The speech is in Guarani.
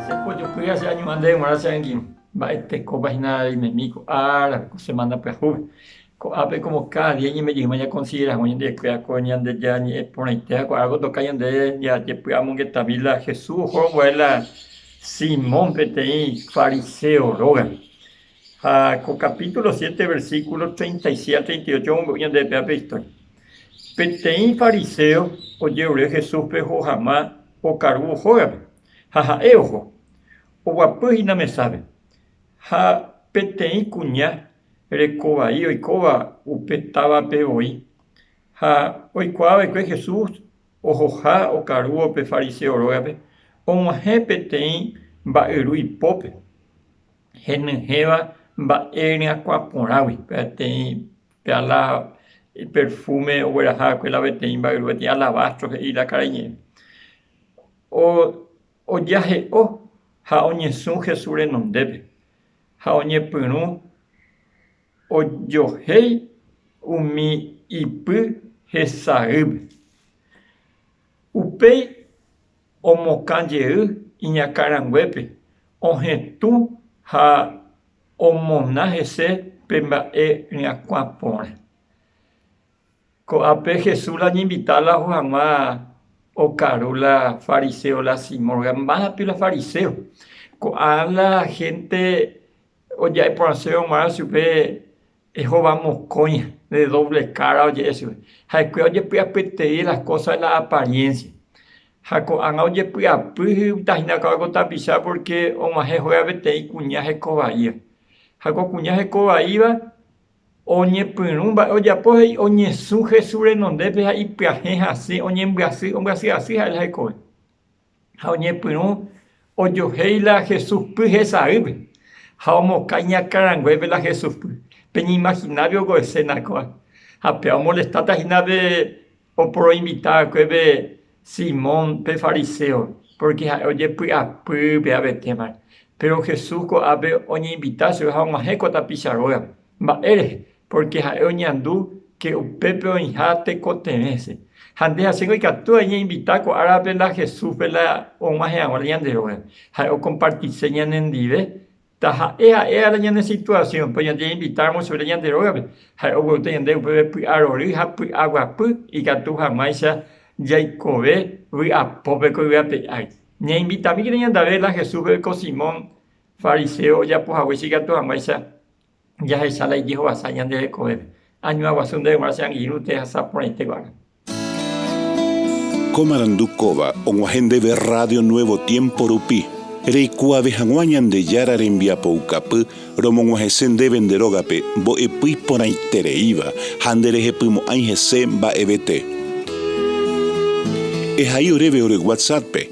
Che pojopýva che añohánte g̃uarã che angirũ, mba'e tekópa hína reimemi ko árape, ko semana pyahúpe. Ko'ápe komo káda día iñembejýma ñakonsidera hag̃ua ñande ypýa ko Ñandejára ñe'ẽ porãitéva, ko árape otoka ñande ñajepy amongetami la Jesús oho ranguare la Simón peteĩ fariséo rógape. Ha ko capítulo siete versículo treinta y siete a treinta y ocho omombe'u ñande rehe péva pe historia. Peteĩ fariséo ojerure Jesúspe ohohama okarúvo hógape, ha ha'e oho, oguapy hína mesápe. Ha peteĩ kuña reko vai oikóva upe távape voi, ha oikuaa va'ekue Jesús ohoha okarúvo pe fariséo rógape, og̃uahẽ peteĩ mba'yru ipópe. henyhẽva mba'e ryakuã porãgui, peteĩ peala iperfúme ogueraha va'ekue la peteĩ mba'yru, peteĩ alabastro he'i la karai ñe'ẽ. Ojahe'o ha oñesũ Jesús renondépe, ha oñepyrũ ojohéi umi ipy hesaýpe. Upéi omokã jey iñakã ranguépe, ohetũ ha omona hese pe mba'e ryakuã porã. Ko'ápe Jesús la oñeinvita la oho hag̃ua okaru la fariséo la Simón, porque mápi la fariséo. Ko'ã la hénte oja'e porãsévo g̃uarã chupe Jehová mokõi de doble kára oje'e chupe. Ha'ekuéra ojepy'apytei las kósa de la apariénsia. Ha ko'ág̃a ojepy'apy hupytahína ka'avo ko tapicha pórke og̃uahẽ hóga peteĩ kuña heko vaíva. Ha ko kuña heko vaíva oñepyrũ mba'e ojapo ha oñesũ Jesús renondépe ha ipyahẽ hasẽ oñembyasy, ombyasy asy ha'e la hekove. ha oñepyrũ ojohéi la Jesuspy hesaýpe ha omokãi ñakãranguépe la Jesuspy. Peñeimaginápe óko eséna kóva. Ha péva omolestáta hína pe oporoinvita va'ekue pe Simón pe fariséo, pórke ha'e ojepy'apy pe avetémare. Péro Jesús ko'ápe oñeinvita chupe ha og̃uahẽ ko tapicha rógape. Mba'e rehe? Pórke ha'e oñandu ke upépe oĩha tekotevẽse. Ha nde hasýgui ikatu añeinvita ko árape la Jesúspe la og̃uahẽ hag̃ua la ñande rógape. Ha'e okompartise ñanendive taha'e ha'e ára ñane situasiónpe oñañeinvitáramo chupe la ñande rógape. Ha'e ogueúta ñande upépe py'arory ha py'aguapy ikatu hag̃uáicha jaikove vy'apópe ko yvy ape ári. Ñainvitamíkena ñandave la Jesúspe ko Simón fariséo ojapo haguéicha ikatu hag̃uáicha jahecha la ijehovasa ñande rekovépe. Añua guasu nde g̃uarã che angirũ tehasa porãite guarã. Ko marandu kóva og̃uahẽ ndéve Rrádio Nuevo Tiempo rupi, reikuaave hag̃ua Ñandejára rembiapoukapy romog̃uahẽse ndéve nde rógape mbo'epy porãitereíva ha nderehepymo'ãi hese mba'evete. Ehai oréve ore WhatsApp-pe.